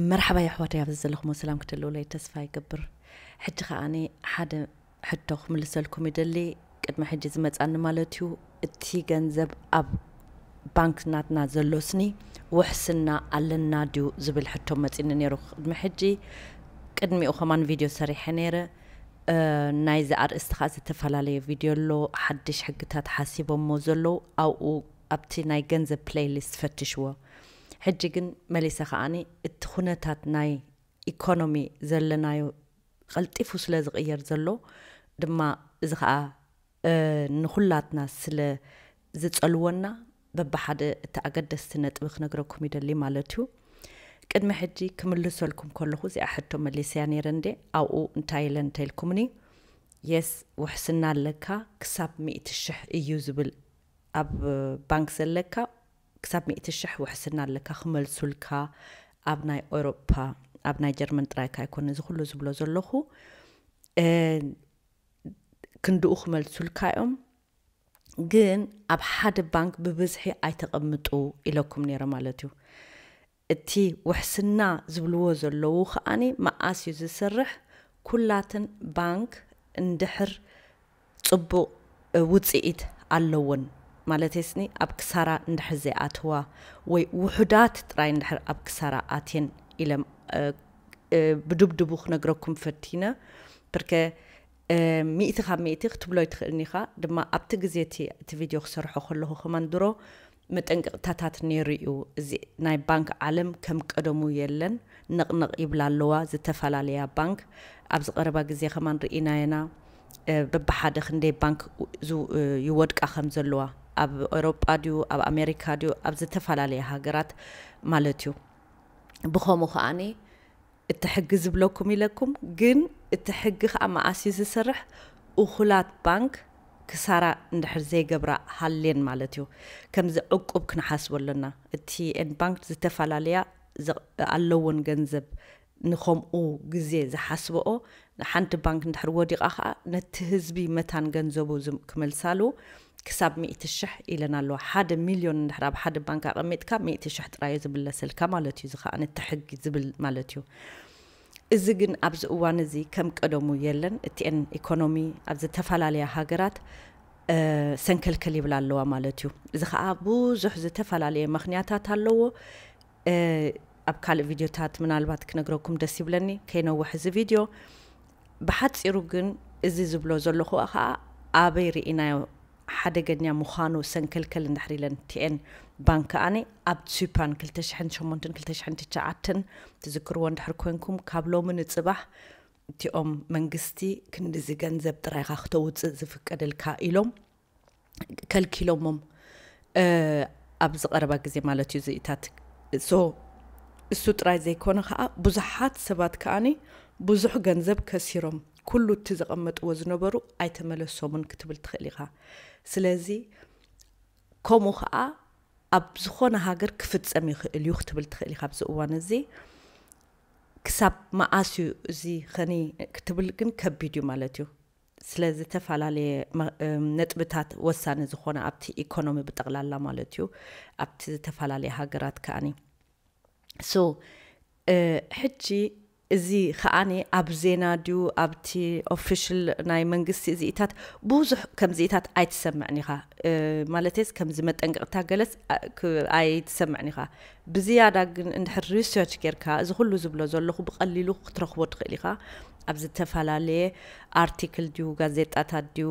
መርሓባ የሕዋተይ ኣብዚ ዘለኹሞ ሰላም ክትህልውለይ ተስፋ ይገብር ሕጂ ከኣኒ ሓደ ሕቶ ክምልሰልኩም ይደሊ ቅድሚ ሕጂ ዝመጻኒ ማለት እዩ እቲ ገንዘብ ኣብ ባንክ ናትና ዘሎስኒ ውሕስና ኣለና ድዩ ዝብል ሕቶ መጺኒ ነይሩ ቅድሚ ሕጂ ቅድሚኡ ከማን ቪድዮ ሰሪሐ ነይረ ናይዚ ኣርእስቲ ከዓ ዝተፈላለየ ቪድዮ ኣሎ ሓድሽ ሕግታት ሓሲቦሞ ዘለዉ ኣብኡ ኣብቲ ናይ ገንዘብ ፕሌይሊስት ፈትሽዎ ሕጂ ግን መሊሰ ከኣ እቲ ኩነታት ናይ ኢኮኖሚ ዘለናዮ ቐልጢፉ ስለ ዝቕየር ዘሎ ድማ እዚ ከኣ ንኹላትና ስለ ዝጸልወና በብሓደ እቲ ኣገደስቲ ነጥቢ ክነግረኩም ይደሊ ማለት እዩ ቅድሚ ሕጂ ክምልሰልኩም ከለኹ እዚኣ ሕቶ መሊሰያ ነይረ እንዴ ኣብኡ እንታይ ኢለ እንተኢልኩምኒ የስ ውሕስና ኣለካ ክሳብ ሚእቲ ሽሕ እዩ ዝብል ኣብ ባንክ ዘለካ ክሳብ ሚእቲ ሽሕ ውሕስና ኣለካ ክመልሱልካ ኣብ ናይ ኦሮፓ ኣብ ናይ ጀርመን ጥራይካ ኣይኮነ እዚ ኩሉ ዝብሎ ዘለኹ ክንድኡ ክመልሱልካ እዮም ግን ኣብ ሓደ ባንክ ብብዝሒ ኣይተቐምጡ ኢለኩም ነይረ ማለት እዩ እቲ ውሕስና ዝብልዎ ዘለዉ ከኣ መኣስ እዩ ዝስርሕ ኩላትን ባንክ እንድሕር ጽቡቅ ውጺኢት ኣለወን ማለተይስኒ ኣብ ክሳራ እንድሕር ዘይኣተዋ ወይ ውሑዳት ጥራይ እንድሕር ኣብ ክሳራ ኣትየን ኢለ ብድብድቡ ክነግረኩም ፈቲነ ብርከ ሚእቲ ካብ ሚእቲ ክትብሎ ኣይትክእልን ኢካ ድማ ኣብቲ ግዜ እቲ እቲ ቪድዮ ክሰርሖ ከለኩ ከማን ድሮ መጠንቀቕታታት ነይሩ እዩ እዚ ናይ ባንክ ዓለም ከም ቀደሙ የለን ነቕነቕ ይብላ ኣለዋ ዝተፈላለያ ባንክ ኣብዚ ቀረባ ግዜ ከማን ርኢናየና በብሓደ ክንደይ ባንክ ይወድቃ ከም ዘለዋ ኣብ ኤሮጳ ድዩ ኣብ ኣሜሪካ ድዩ ኣብ ዝተፈላለያ ሃገራት ማለት እዩ ብኸምኡ ከኣ እቲ ሕጊ ዝብለኩም ኢለኩም ግን እቲ ሕጊ ከኣ መኣስ እዩ ዝሰርሕ እኩላት ባንክ ክሳራ እንድሕር ዘይገብራ ሃልየን ማለት እዩ ከምዚ ዕቁብ ክንሓስቦ ኣሎና እቲ ን ባንክ ዝተፋላለያ ኣለወን ገንዘብ ንከምኡ ግዜ ዝሓስበኦ ንሓንቲ ባንክ እንድሕር ወዲቓ ከኣ ነቲ ህዝቢ መታን ገንዘቡ ክመልሳሉ ክሳብ ሚእቲ ሽሕ ኢለን ኣለዋ። ሓደ ሚልዮን እንድሕር ኣብ ሓደ ባንክ ኣቐሚጥካ ሚእቲ ሽሕ ጥራይዮ ዝምለሰልካ ማለት እዩ። እዚ ከኣ ነቲ ሕጊ ዝብል ማለት እዩ። እዚ ግን ኣብዚ እዋን እዚ ከም ቀደሙ የለን። እቲኤን ኢኮኖሚ ኣብ ዝተፈላለያ ሃገራት ሰንከልከል ይብላ ኣለዋ ማለት እዩ። እዚ ከኣ ብዙሕ ዝተፈላለየ መኽንያታት ኣለዎ። ኣብ ካልእ ቪድዮታት ምናልባት ክነግረኩም ደስ ይብለኒ ከይነውሕ እዚ ቪድዮ ብሓፂሩ ግን እዚ ዝብሎ ዘለኹ ከዓ ኣበይ ርኢናዮ ሓደገኛ ምዃኑ ሰንከልከል እንድሕር ኢለን ቲኤን ባንክ ከዓኒ ኣብ ሱፓን 2008 2009 ትዝክርዎ እንድሕር ኮንኩም ካብ ሎሚ ንፅባሕ እቲኦም መንግስቲ ክንድዚ ገንዘብ ጥራይካ ክተውፅእ ዝፍቀደልካ ኢሎም ከልኪሎሞም ኣብዚ ቀረባ ግዜ ማለት እዩ ዝኢታት እሱ ጥራይ ዘይኮነ ከዓ ብዙሓት ሰባት ከዓኒ ብዙሕ ገንዘብ ከሲሮም ኩሉ እቲ ዘቐመጥዎ ዝነበሩ ኣይተመለሶምን ክትብል ትኽእል ኢኻ ስለዚ ከምኡ ከዓ ኣብ ዝኾነ ሃገር ክፍፀም ይኽእል እዩ ክትብል ትኽእል ኢኻ ኣብዚ እዋን እዚ ክሳብ መዓስ እዩ እዚ ኸኒ ክትብል ግን ከቢድ እዩ ማለት እዩ ስለ ዝተፈላለየ ነጥብታት ወሳኒ ዝኾነ ኣብቲ ኢኮኖሚ ብጠቕላላ ማለት እዩ ኣብቲ ዝተፈላለየ ሃገራት ከኣኒ ሶ ሕጂ እዚ ከኣኒ ኣብ ዜና ድዩ ኣብቲ ኦፊሽል ናይ መንግስቲ እዚኢታት ብዙሕ ከምዚኢታት ኣይትሰምዕን ኢኻ ማለትስ ከምዚ መጠንቀቕታ ገለስ ኣይትሰምዕን ኢኻ ብዝያዳ ግን እንድሕር ሪሰርች ጌርካ እዚ ኩሉ ዝብሎ ዘለኹ ብቐሊሉ ክትረኽቦ ትኽእል ኢኻ ኣብ ዝተፈላለየ ኣርቲክል ድዩ ጋዜጣታት ድዩ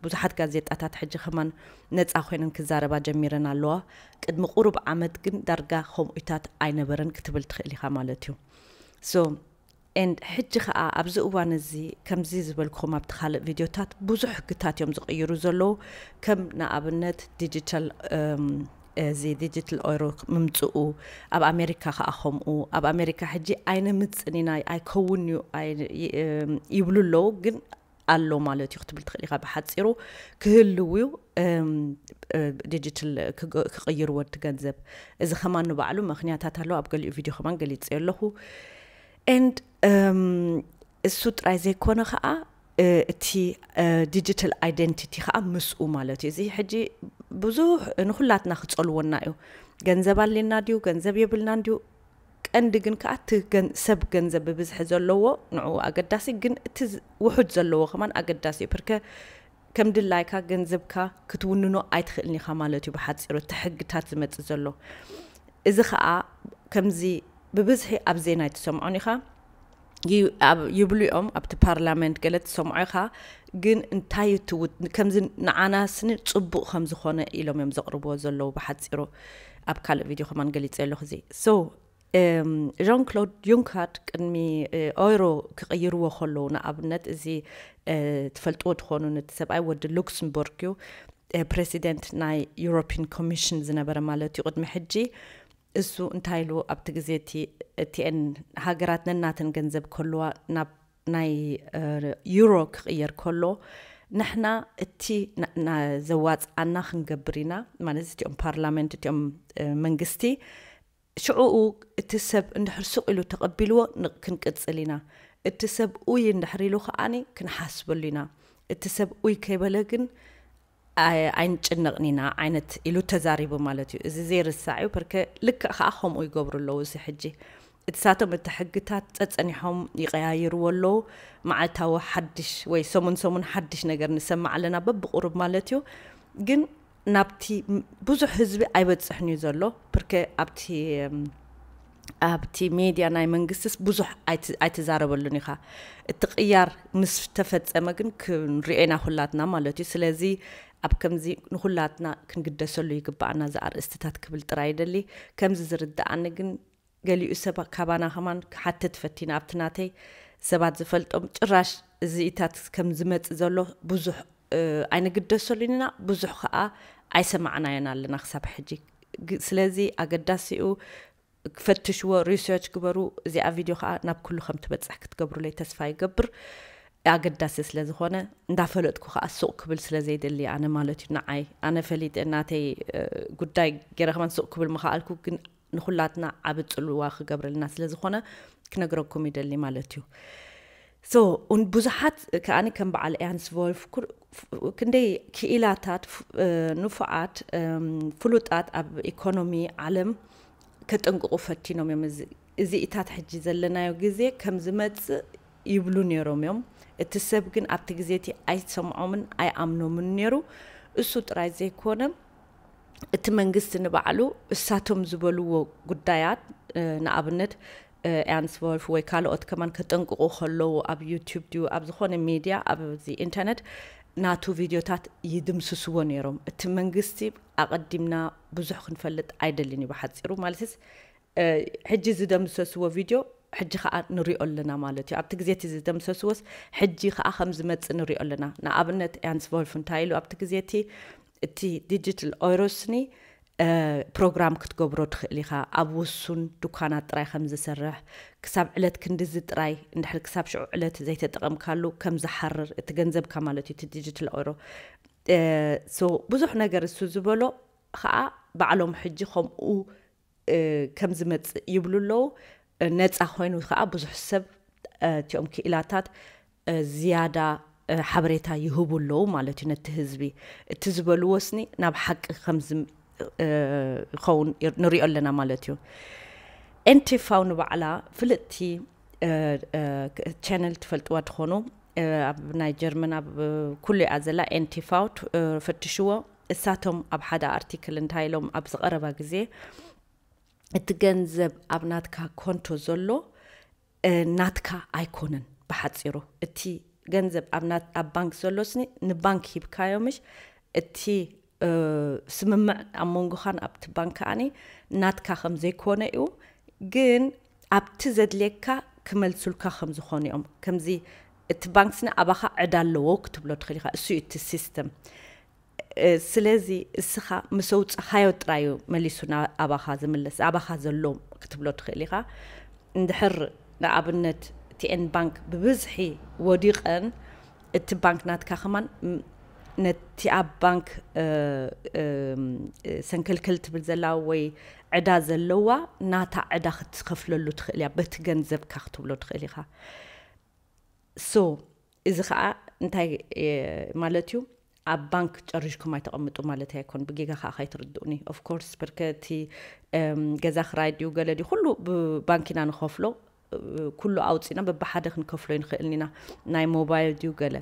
ብዙሓት ጋዜጣታት ሕጂ ከማን ነጻ ኮይነን ክዛረባ ጀሚረን ኣለዋ ቅድሚ ቁሩብ ዓመት ግን ዳርጋ ከምኡታት ኣይነበረን ክትብል ትኽእል ኢኻ ማለት እዩ ሶ ኤንድ ሕጂ ከዓ ኣብዚ እዋን እዚ ከምዚ ዝበልኩም ኣብቲ ካልእ ቪድዮታት ብዙሕ ሕግታት እዮም ዝቕይሩ ዘለዉ ከም ንኣብነት ዲጂታል እዚ ዲጂትል ኦሮ ምምጽኡ ኣብ ኣሜሪካ ከኣ ከምኡ ኣብ ኣሜሪካ ሕጂ ኣይነምጽን ኢና ኣይከውን እዩ ይብሉ ኣለዉ ግን ኣሎ ማለት እዩ ክትብል ትኽእል ኢኻ ብሓፂሩ ክህልው እዩ ዲጂትል ክቕይርዎ እቲ ገንዘብ እዚ ከማን ንባዕሉ ምክንያታት ኣለዎ ኣብ ገሊኡ ቪድዮ ከማን ገሊፀ ኣለኹ ኤንድ እሱ ጥራይ ዘይኮነ ከዓ እቲ ዲጂታል ኣይደንቲቲ ከዓ ምስኡ ማለት እዩ። እዚ ሕጂ ብዙሕ ንኩላትና ክጸልወና እዩ። ገንዘብ ኣልና ድዩ ገንዘብ የብልናን ድዩ ቀንዲ ግን ከዓ እቲ ሰብ ገንዘብ ብብዝሒ ዘለዎ ንዕኡ ኣገዳሲ ግን እቲ ውሑድ ዘለዎ ከማን ኣገዳሲ እዩ ፕርከ ከም ድላይካ ገንዘብካ ክትውንኖ ኣይትኽእልን ኢኻ ማለት እዩ ብሓፂሩ እቲ ሕግታት ዝመፅእ ዘሎ እዚ ከዓ ከምዚ ብብዝሒ ኣብ ዜና ኣይትሰምዖን ኢኻ ይብሉ እዮም ኣብቲ ፓርላመንት ገለ ትሰምዖ ኢኻ ግን እንታይ እዩ ትውት ከምዚ ንዓና ስኒ ፅቡቅ ከም ዝኾነ ኢሎም እዮም ዘቕርብዎ ዘለዉ ብሓፂሩ ኣብ ካልእ ቪድዮ ከማን ገሊፀ ኣለኹ እዚ ሶ ዣን ክሎድ ዩንካርድ ቅድሚ ኦይሮ ክቕይርዎ ከለዉ ንኣብነት እዚ ትፈልጥዎ ትኾኑ ነቲ ሰብኣይ ወዲ ሉክስምቡርግ እዩ ፕሬዚደንት ናይ ዩሮፒን ኮሚሽን ዝነበረ ማለት እዩ ቅድሚ ሕጂ እሱ እንታይ ኢሉ ኣብቲ ግዜ እቲ እቲኤን ሃገራት ነናተን ገንዘብ ክህልዋ ናብ ናይ ዩሮ ክቕየር ከሎ ንሕና እቲ ዘዋጽኣና ክንገብር ኢና ማለት እቲኦም ፓርላመንት እቲኦም መንግስቲ ሽዑኡ እቲ ሰብ እንድሕር ሱቕ ኢሉ ተቐቢልዎ ክንቅጽል ኢና እቲ ሰብ ኡይ እንድሕር ኢሉ ከኣ ክንሓስበሉ ኢና እቲ ሰብ ኡይ ከይበለ ግን ኣይንጭነቕን ኢና ዓይነት ኢሉ ተዛሪቡ ማለት እዩ። እዚ ዘይርሳዕ እዩ ፐርከ ልክዕ ከኣ ከምኡ ይገብሩ ኣለዉ እዚ ሕጂ እቲ ሳቶም እቲ ሕግታት ጸጸኒሖም ይቐያይርዎ ኣለዉ መዓልታዊ ሓድሽ ወይ ሰሙን ሰሙን ሓድሽ ነገር ንሰምዕ ኣለና በብቑሩብ ማለት እዩ ግን ናብቲ ብዙሕ ህዝቢ ኣይበጽሕን እዩ ዘሎ ፐርከ ኣብቲ ኣብቲ ሜድያ ናይ መንግስትስ ብዙሕ ኣይትዛረበሉን ኢኻ እቲ ቅያር ምስ ተፈፀመ ግን ክንሪኦ ኢና ኩላትና ማለት እዩ ስለዚ ኣብ ከምዚ ንኹላትና ክንግደሰሉ ይግባኣና እዚ ኣርእስትታት ክብል ጥራይ ይደሊ ከምዚ ዝርዳኣኒ ግን ገሊኡ ሰብ ካባና ከማን ክሓትት ፈቲና ኣብቲ ናተይ ሰባት ዝፈልጦም ጭራሽ እዚኢታት ከም ዝመፅእ ዘሎ ብዙሕ ኣይንግደሰሉን ኢና ብዙሕ ከኣ ኣይሰማዕናዮን ኣለና ክሳብ ሕጂ ስለዚ ኣገዳሲኡ ፈትሽዎ ሪሰርች ግበሩ እዚኣ ቪድዮ ከዓ ናብ ኩሉ ከም ትበፅሕ ክትገብሩለይ ተስፋ ይገብር ኣገዳሲ ስለ ዝኾነ እንዳፈለጥኩ ከዓ ሱቅ ክብል ስለ ዘይደሊ ኣነ ማለት እዩ ንዓይ ኣነ ፈሊጠ ናተይ ጉዳይ ገይረ ከማን ሱቅ ክብል ምኸኣልኩ ግን ንኹላትና ዓብ ጽልዋ ክገብረልና ስለ ዝኾነ ክነግረኩም ይደሊ ማለት እዩ ሶ ብዙሓት ከዓ ከም በዓል ኤያንስ ቮልፍ ክንደይ ክኢላታት ንፉዓት ፍሉጣት ኣብ ኢኮኖሚ ዓለም ከጠንቅቑ ፈቲኖም እዮም እዚ እዚኢታት ሕጂ ዘለናዮ ግዜ ከም ዝመፅእ ይብሉ ነይሮም እዮም እቲ ሰብ ግን ኣብቲ ግዜ እቲ ኣይሰምዖምን ኣይኣምኖምን ነይሩ እሱ ጥራይ ዘይኮነ እቲ መንግስቲ ንባዕሉ እሳቶም ዝበልዎ ጉዳያት ንኣብነት ኤርንስ ቮልፍ ወይ ካልኦት ከማን ከጠንቅቑ ከለዉ ኣብ ዩቱብ ድዩ ኣብ ዝኾነ ሚድያ ኣብዚ ኢንተርነት ናቱ ቪድዮታት ይድምስስዎ ነይሮም እቲ መንግስቲ ኣቐዲምና ብዙሕ ክንፈልጥ ኣይደልን እዩ ብሓፂሩ ማለትስ ሕጂ ዝደምሰስዎ ቪድዮ ሕጂ ከዓ ንሪኦ ኣለና ማለት እዩ ኣብቲ ግዜ እቲ ዝደምሰስዎስ ሕጂ ከዓ ከም ዝመፅእ ንሪኦ ኣለና ንኣብነት ያንስ ቮልፍ እንታይ ኢሉ ኣብቲ ግዜ እቲ እቲ ዲጂትል ኦይሮስኒ ፕሮግራም ክትገብሮ ትኽእል ኢኻ ኣብ ውሱን ዱካናት ጥራይ ከም ዝሰርሕ ክሳብ ዕለት ክንድዚ ጥራይ እንድሕር ክሳብ ሽዑ ዕለት ዘይተጠቐምካሉ ከም ዝሓርር እቲ ገንዘብካ ማለት እዩ እቲ ዲጂትል ኦይሮ ሶ ብዙሕ ነገር እሱ ዝበሎ ከዓ ባዕሎም ሕጂ ከምኡ ከም ዝመጽእ ይብሉ ኣለዉ። ነጻ ኮይኑ ከኣ ብዙሕ ሰብ እቲኦም ክኢላታት ዝያዳ ሓበሬታ ይህቡ ኣለዉ ማለት እዩ ነቲ ህዝቢ። እቲ ዝበልዎ ስኒ ናብ ሓቂ ከም ዝኸውን ንሪኦ ኣለና ማለት እዩ። ኤንቲፋው ንባዕላ ፍልጥቲ ቻነል ትፈልጥዋ ትኾኑ ኣብ ናይ ጀርመን ኣብ ኩሉ እያ ዘላ ኤንቲፋው ፈትሽዎ። እሳቶም ኣብ ሓደ ኣርቲክል እንታይ ኢሎም ኣብዚ ቀረባ ግዜ እቲ ገንዘብ ኣብ ናትካ ኮንቶ ዘሎ ናትካ ኣይኮነን ብሓፂሩ እቲ ገንዘብ ኣብ ባንክ ዘሎስኒ ንባንክ ሂብካዮምሽ እቲ ስምምዕ ኣብ መንጎኻን ኣብቲ ባንክ ከዓኒ ናትካ ከም ዘይኮነ እዩ ግን ኣብቲ ዘድልየካ ክመልሱልካ ከም ዝኾኑ እዮም ከምዚ እቲ ባንክ ስነ ኣባኻ ዕዳ ኣለዎ ክትብሎ ትኽእል ኢኻ እሱ እዩ እቲ ሲስተም ስለዚ እስኻ ምስ ኣውጻኻዮ ጥራይ እዩ መሊሱ ኣባኻ ዝምለስ ኣባኻ ዘሎ ክትብሎ ትኽእል ኢኻ እንድሕር ንኣብነት ቲኤን ባንክ ብብዝሒ ወዲቐን እቲ ባንክ ናትካ ከማን ነቲ ኣብ ባንክ ሰንከልከል ትብል ዘላ ወይ ዕዳ ዘለዋ ናታ ዕዳ ክትከፍለሉ ትኽእል እያ በቲ ገንዘብካ ክትብሎ ትኽእል ኢኻ so እዚ ከኣ እንታይ ማለት እዩ ኣብ ባንክ ጨሪሽኩም ኣይተቐምጡ ማለት ኣይኮን ብጌጋ ከዓ ካይትርድኡኒ ኦፍኮርስ ብርከ እቲ ገዛ ክራይ ድዩ ገለ ድዩ ኩሉ ብባንክ ኢና ንኸፍሎ ኩሉ ኣውፅእና በብሓደ ክንከፍሎ ይንኽእል ኢና ናይ ሞባይል ድዩ ገለ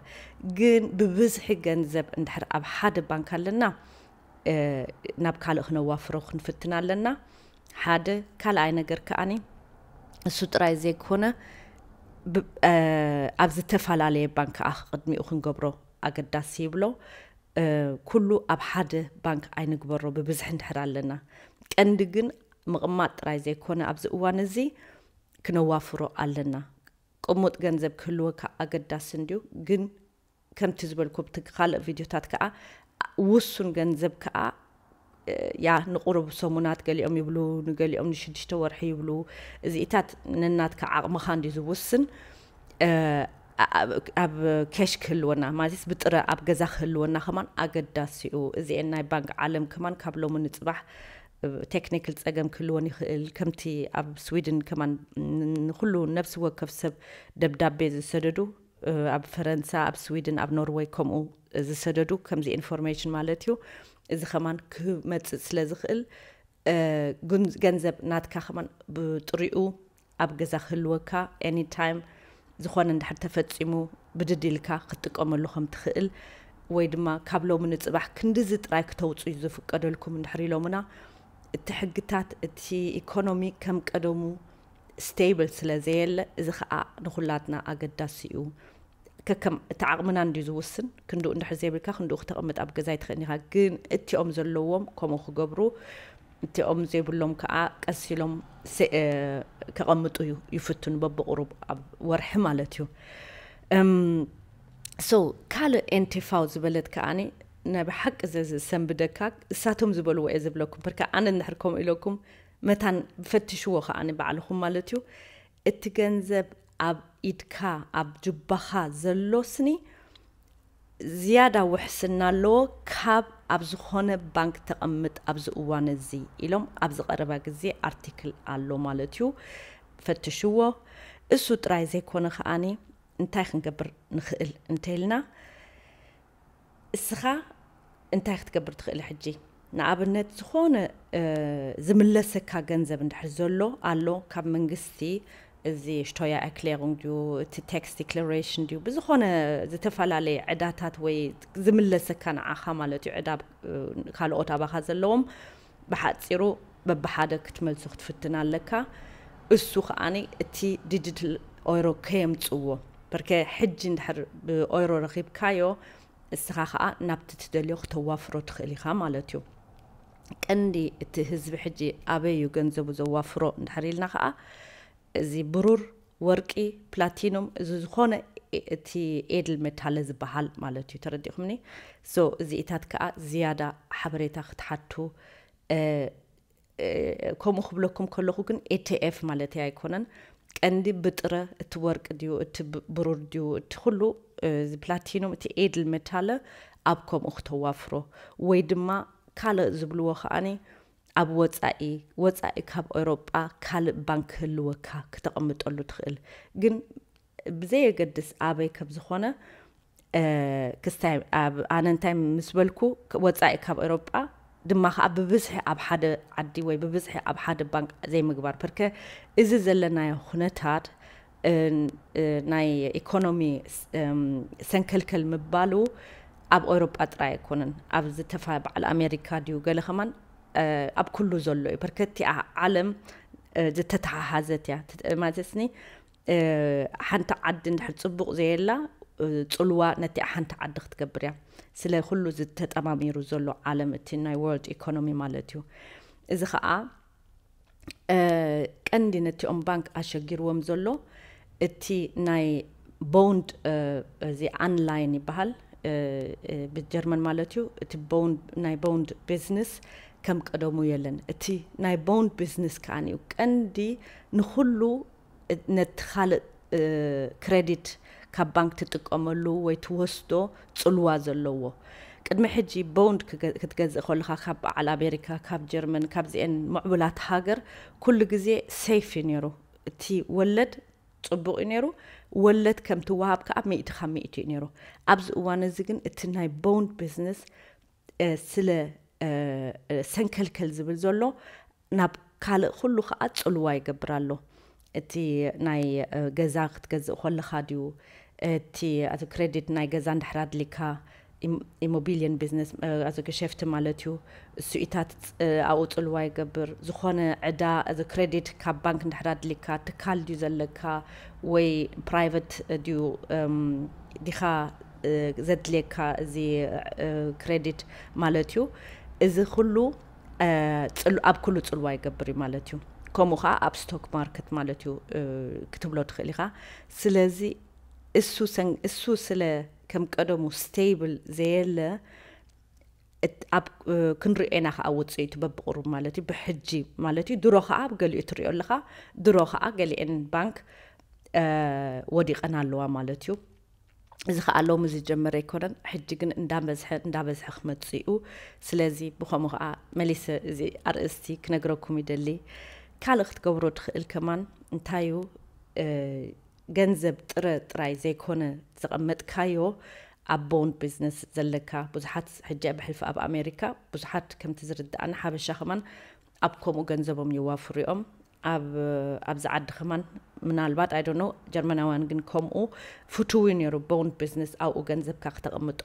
ግን ብብዝሒ ገንዘብ እንድሕር ኣብ ሓደ ባንክ ኣለና ናብ ካልእ ክነዋፍሮ ክንፍትን ኣለና ሓደ ካልኣይ ነገር ከኣኒ እሱ ጥራይ ዘይኮነ ኣብ ዝተፈላለየ ባንክ ከኣ ቅድሚኡ ክንገብሮ ኣገዳሲ ይብሎ ኩሉ ኣብ ሓደ ባንክ ኣይንግበሮ ብብዝሒ እንድሕር ኣለና ቀንዲ ግን ምቕማጥ ጥራይ ዘይኮነ ኣብዚ እዋን እዚ ክነዋፍሮ ኣለና ቅሙጥ ገንዘብ ክህልወካ ኣገዳሲ እንድዩ ግን ከምቲ ዝበልኩ ኣብቲ ካልእ ቪድዮታት ከኣ ውሱን ገንዘብ ከኣ ያ ንቑሩብ ሰሙናት ገሊኦም ይብሉ ንገሊኦም ንሽዱሽተ ወርሒ ይብሉ እዚኢታት ነናትካ ዓቕምኻ እንድዩ ዝውስን ኣብ ኬሽ ክህልወና ማለት ብጥረ ኣብ ገዛ ክህልወና ከማን ኣገዳሲ እዩ እዚኤን ናይ ባንክ ዓለም ከማን ካብ ሎሚ ንፅባሕ ቴክኒክል ፀገም ክህልወን ይኽእል ከምቲ ኣብ ስዊድን ከማን ንኩሉ ነብሲ ወከፍ ሰብ ደብዳቤ ዝሰደዱ ኣብ ፈረንሳ ኣብ ስዊድን ኣብ ኖርወይ ከምኡ ዝሰደዱ ከምዚ ኢንፎርሜሽን ማለት እዩ እዚ ከማን ክመፅእ ስለ ዝኽእል ገንዘብ ናትካ ከማን ብጥሪኡ ኣብ ገዛ ክህልወካ ኤኒታይም ዝኾነ እንድሕር ተፈፂሙ ብድድ ኢልካ ክትጥቀመሉ ከም ትኽእል ወይ ድማ ካብ ሎሚ ንፅባሕ ክንዲዚ ጥራይ ክተውፅዩ ዝፍቀደልኩም እንድሕር ኢሎምና እቲ ሕግታት እቲ ኢኮኖሚ ከም ቀደሙ stable ስለ ዘየለ እዚ ከኣ ንኩላትና ኣገዳሲ እዩ ከከም እቲ ዓቕምና እንድዩ ዝውስን ክንድኡ እንድሕር ዘይብልካ ክንድኡ ክተቕምጥ ኣብ ገዛ ኣይትኽእልን ኢኻ ግን እቲኦም ዘለዎም ከምኡ ክገብሩ እቲኦም ዘይብሎም ከዓ ቀስ ኢሎም ከቐምጡ ይፍትኑ በብቕሩብ ኣብ ወርሒ ማለት እዩ ሶ ካልእ ኤንቴፋው ዝበለት ከዓኒ ናይ ብሓቂ ዘሰንብደካ እሳቶም ዝበልዎ እየ ዝብለኩም ፐርካ ኣነ እንድሕር ከምኡ ኢለኩም መታን ፈትሽዎ ከኣ ንባዕልኹም ማለት እዩ እቲ ገንዘብ ኣብ ኢድካ ኣብ ጁባኻ ዘሎ ስኒ ዝያዳ ውሕስና ኣለዎ ካብ ኣብ ዝኾነ ባንክ ተቐምጥ ኣብዚ እዋን እዚ ኢሎም ኣብዚ ቀረባ ግዜ ኣርቲክል ኣሎ ማለት እዩ ፈትሽዎ እሱ ጥራይ ዘይኮነ ከኣ እንታይ ክንገብር ንኽእል እንተይልና እስኻ እንታይ ክትገብር ትኽእል ሕጂ ንኣብነት ዝኾነ ዝምለሰካ ገንዘብ እንድሕር ዘሎ ኣሎ ካብ መንግስቲ እዚ ሽቶያ ኤክሌሩንግ ድዩ እቲ ቴክስ ዲክለሬሽን ድዩ ብዝኾነ ዝተፈላለየ ዕዳታት ወይ ዝምለሰካ ንዓኻ ማለት እዩ ዕዳ ካልኦት ኣባኻ ዘለዎም ብሓጺሩ በብሓደ ክትመልሶ ክትፍትን ኣለካ እሱ ከኣ እቲ ዲጂትል ኦይሮ ከየምጽዎ በርከ ሕጂ እንድሕር ብኦይሮ ረኺብካዮ እስኻ ከኣ ናብቲ ትደልዮ ክተዋፍሮ ትኽእል ኢኻ ማለት እዩ ቀንዲ እቲ ህዝቢ ሕጂ ኣበይ እዩ ገንዘቡ ዘዋፍሮ እንድሕር ኢልና ከኣ እዚ ብሩር ወርቂ፣ ፕላቲኑም፣ ዝዝኾነ እቲ ኤድል መታለ ዝበሃል ማለት እዩ ተረዲእኹምኒ so እዚኢታት ከኣ ዝያዳ ሓበሬታ ክትሓቱ ከምኡ ክብለኩም ከለኹ ግን ኤትኤፍ ማለተይ ኣይኮነን ቀንዲ ብጥረ እቲ ወርቂ ድዩ እቲ ብሩር ድዩ እቲ ኩሉ እዚ ፕላቲኑም እቲ ኤድል መታለ ኣብ ከምኡ ክተዋፍሮ ወይ ድማ ካልእ ዝብልዎ ከኣኒ ኣብ ወጻኢ፣ ወጻኢ ካብ ኤውሮጳ ካልእ ባንክ ክህልወካ ክተቕምጠሉ ትኽእል ግን ብዘየገድስ ኣበይ ከም ዝኾነ ክስታይ ኣነ እንታይ ምስ በልኩ ወጻኢ ካብ ኤውሮጳ ድማ ከዓ ብብዝሒ ኣብ ሓደ ዓዲ ወይ ብብዝሒ ኣብ ሓደ ባንክ ዘይምግባር ፐርከ እዚ ዘለናዮ ኩነታት ናይ ኢኮኖሚ ሰንከልከል ምባሉ ኣብ ኤውሮጳ ጥራይ ኣይኮነን ኣብ ዝተፋ በዓል ኣሜሪካ ድዩ ገለ ከማን ኣብ ኩሉ ዘሎ እዩ በርከቲኣ ዓለም ዝተተሓሓዘት እያ ማለትስኒ ሓንቲ ዓዲ እንድሕር ፅቡቕ ዘየላ ፅልዋ ነቲ ሓንቲ ዓዲ ክትገብር እያ ስለ ኩሉ ዝተጠማሚሩ ዘሎ ዓለም እቲ ናይ ወርልድ ኢኮኖሚ ማለት እዩ እዚ ከዓ ቀንዲ ነቲኦም ባንክ ኣሸጊርዎም ዘሎ እቲ ናይ ቦንድ እዚ ኣንላይን ይበሃል ብጀርመን ማለት እዩ እቲ ናይ ቦንድ ቢዝነስ ከም ቀደሙ የለን እቲ ናይ ቦንድ ቢዝነስ ከዓኒ እዩ ቀንዲ ንኩሉ ነቲ ካልእ ክረዲት ካብ ባንክ ትጥቀመሉ ወይ ትወስዶ ጽልዋ ዘለዎ። ቅድሚ ሕጂ ቦንድ ክትገዝእ ከለኻ ካብ በዓል ኣሜሪካ ካብ ጀርመን ካብዚኤን ምዕቡላት ሃገር ኩሉ ግዜ ሰይፍ እዩ ኔሩ እቲ ወለድ ጽቡቅ እዩ ኔሩ ወለድ ከም ትወሃብ ከኣ ሚእቲ ካብ ሚእቲ እዩ ኔሩ ኣብዚ እዋን እዚ ግን እቲ ናይ ቦንድ ቢዝነስ ስለ ሰንከልከል ዝብል ዘሎ ናብ ካልእ ኩሉ ከኣ ጽልዋ ይገብር ኣሎ። እቲ ናይ ገዛ ክትገዝእ ኮለኻ ድዩ፣ እቲ ኣቲ ክረዲት ናይ ገዛ እንድሕር ኣድሊካ፣ ኢሞቢልየን ቢዝነስ ኣቲ ገሸፍቲ ማለት እዩ፣ እሱኢታት ኣብኡ ጽልዋ ይገብር፣ ዝኾነ ዕዳ ኣቲ ክረዲት ካብ ባንክ እንድሕር ኣድሊካ፣ ትካል ድዩ ዘለካ ወይ ፕራይቨት ድዩ ዲኻ ዘድልየካ እዚ ክረዲት ማለት እዩ። እዚ ኩሉ ኣብ ኩሉ ጽልዋ ይገብር እዩ ማለት እዩ ከምኡ ከዓ ኣብ ስቶክ ማርክት ማለት እዩ ክትብሎ ትኽእል ኢኻ ስለዚ እሱ እሱ ስለ ከም ቀደሙ ስቴብል ዘየለ ኣብ ክንሪኦ ኢና ከዓ ውፅኢቱ በብቕሩብ ማለት እዩ ብሕጂ ማለት እዩ ድሮ ከዓ ገሊኡ ትሪኦ ኣለኻ ድሮ ከዓ ገሊአን ባንክ ወዲቐን ኣለዋ ማለት እዩ እዚ ከኣ ሎሚ ዝጀመረ ኣይኮነን ሕጂ ግን እንዳበዝሐ እንዳበዝሐ ክመጽእ እዩ ስለዚ ብከምኡ ከኣ መሊሰ እዚ ኣርእስቲ ክነግረኩም ይደሊ ካልእ ክትገብሮ ትኽእል ከማን እንታይ እዩ ገንዘብ ጥረ ጥራይ ዘይኮነ ዘቐመጥካዮ ኣብ ቦንድ ቢዝነስ ዘለካ ብዙሓት ሕጂ ኣብ ሕልፊ ኣብ ኣሜሪካ ብዙሓት ከምቲ ዝርድኣና ሓበሻ ከማን ኣብ ከምኡ ገንዘቦም የዋፍሩ እዮም ኣብ ኣብዚ ዓዲ ከማን ምናልባት ኣይ ዶንት ኖው ጀርመናውያን ግን ከምኡ ፍቱው እዩ ነይሩ ቦንድ ቢዝነስ ኣብኡ ገንዘብካ ክተቐምጦ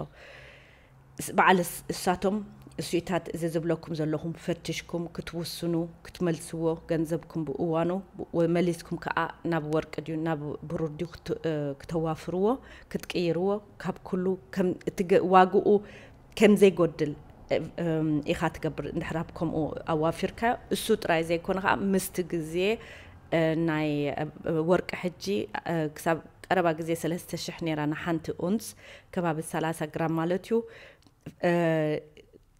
በዓል እሳቶም እሱኢታት እዚ ዝብለኩም ዘለኹም ፈትሽኩም ክትውስኑ ክትመልስዎ ገንዘብኩም ብእዋኑ መሊስኩም ከዓ ናብ ወርቂ ድዩ ናብ ብሩር ድዩ ክተዋፍርዎ ክትቅይርዎ ካብ ኩሉ ከም እቲ ዋግኡ ከምዘይጎድል ኢኻ ትገብር እንድሕር ኣብ ከምኡ ኣዋፊርካዮ እሱ ጥራይ ዘይኮነ ከዓ ምስቲ ግዜ ናይ ወርቂ ሕጂ ክሳብ ቀረባ ግዜ ሰለስተ ሽሕ ነይራ ንሓንቲ ኡንስ ከባቢ ሰላሳ ግራም ማለት እዩ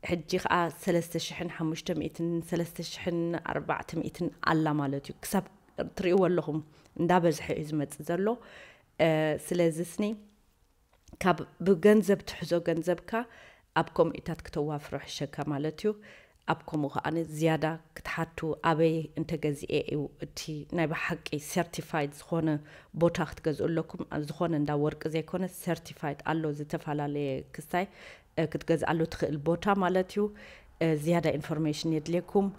ሕጂ ከዓ ሰለስተ ሽሕን ሓሙሽተ ሚእትን ሰለስተ ሽሕን ኣርባዕተ ሚእትን ኣላ ማለት እዩ ክሳብ ትርእይዎ ኣለኹም እንዳበዝሐ እዩ ዝመፅእ ዘሎ ስለዚ ስኒ ካብ ብገንዘብ ትሕዞ ገንዘብካ ኣብ ኮሚኡታት ክተዋፍሮ ሕሸካ ማለት እዩ ኣብ ኮሙ ከኣ ዝያዳ ክትሓቱ ኣበይ እንተ ገዚኤ እዩ እቲ ናይ በሓቂ ሰርቲፋይድ ዝኮነ ቦታ ክትገዝኡ ኣለኩም ዝኮነ እንዳ ወርቂ ዘይኮነስ ሰርቲፋይድ ኣሎ ዝተፋላለየ ክስታይ ክትገዝኣሉ ትክእል ቦታ ማለት እዩ ዝያዳ ኢንፎርሜሽን የድልየኩም